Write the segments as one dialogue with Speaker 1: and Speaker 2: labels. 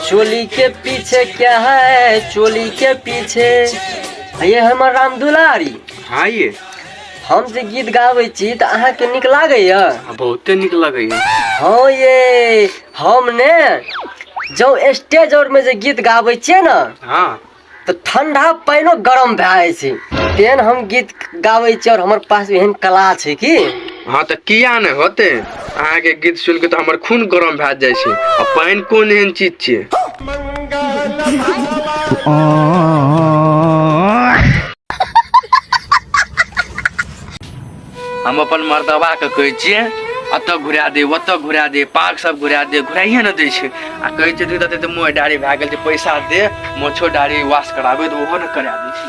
Speaker 1: चोली के पीछे क्या है चोली के पीछे ये हमर राम दुलारी हाँ ये हम जे गीत गाबै छी तऽ अहाँके नीक लागैए आ, बहुते नीक लगैए हँ ये हम ने जँ स्टेज आओरमे जे गीत गाबै छियै ने हाँ तऽ ठंडा पानिओ गरम भए जाइ छै तेहन हम गीत गाबै छी आओर हमर पास एहन कला छै कि हँ तऽ किया नहि होते अहाँके गीत सुनि कऽ तऽ हमर खून गरम भए जाइ छै आ पानि कोन एहन चीज छियै आ हम अपन मर्दबा के कहै छियै अतऽ घुरा दे ओतऽ घुरा दे पार्क सब घुरा दे घुराइए ने दै छै आ कहै छै तू तऽ मोह डारी भए गेल छै पैसा दे मोछो डारी वाश कराबे तऽ ओहो ने करा दै छै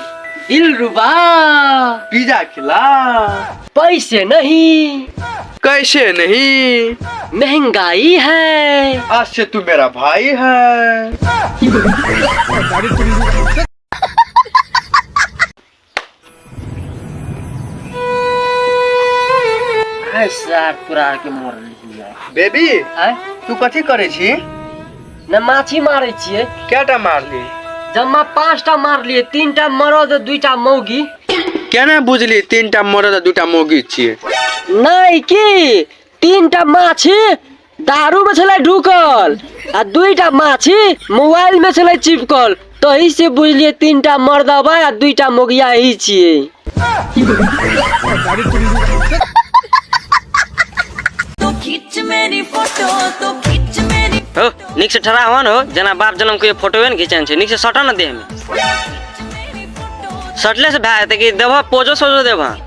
Speaker 1: दिल रुबा पिज्जा खिला पैसे नहीं कैसे नहीं महंगाई है आज से तू मेरा भाई है है सार तोरा आर के मोर लिया बेबी आय तू कथी करे छी न माछी मारै छियै कैटा मारली जम्मा पाँच टा मारलियै तीन टा मरद दुई टा मौगी केना बुझली तीन टा मरद आ दू टा मौगी छियै नहि की तीन टा माछी दारू में छले ढुकल आ दुईटा माछी मोबाइल में छले चिपकल तही से बुझलिए तीन टा मर्द बा आ दुईटा मोगिया ही छिए तो खींच मेरी फोटो तो खींच मेरी हो निक से ठहरा हुआ न हो जना बाप जन्म के फोटोवे न खिंचन छै निक से सटा न देह में खींच मेरी फोटो सटले से भए जेतै कि देबह पोजो सोजो देबह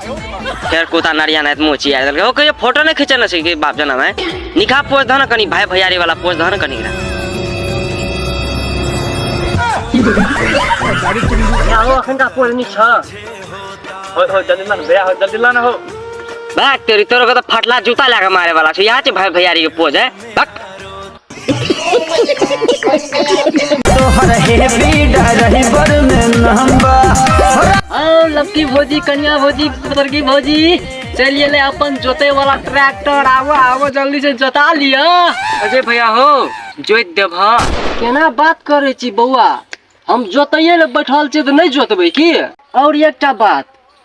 Speaker 1: फेर कुता नरिया नायत मुँह चिया देलकै हो कहियो फोटो नहि खींचल न छै कि बाप जनम है निकाह पोज धन कनी भाई भैयारी वाला पोज धन कनी रे यारो अखन का पोज नहीं छ हो हो जल्दी लान भैया हो जल्दी लान हो भाग तेरी तोरो के तो फटला जूता लगा मारे वाला छै यहाँ छै भाई भैयारी के पोज है भाग तोहर हेवी ड्राइवर में नंबा आओ लपकी भोजी कन्या भोजी पुत्र की भोजी चलिए ले अपन जोते वाला ट्रैक्टर आवो आवो जल्दी से जोता लिया अजय भैया हो जोत देब हाँ केना बात करे छी बौआ हम जोतैये ले बैठल छी तो नहीं जोतबे की और एकटा बात